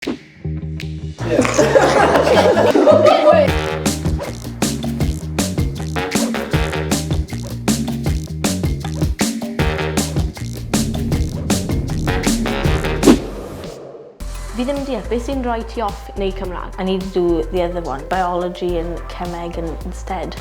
Fi ddim yn deall beth sy'n rhoi ti off neu Cymraeg. I need to do the other one, biology and cemeg and instead.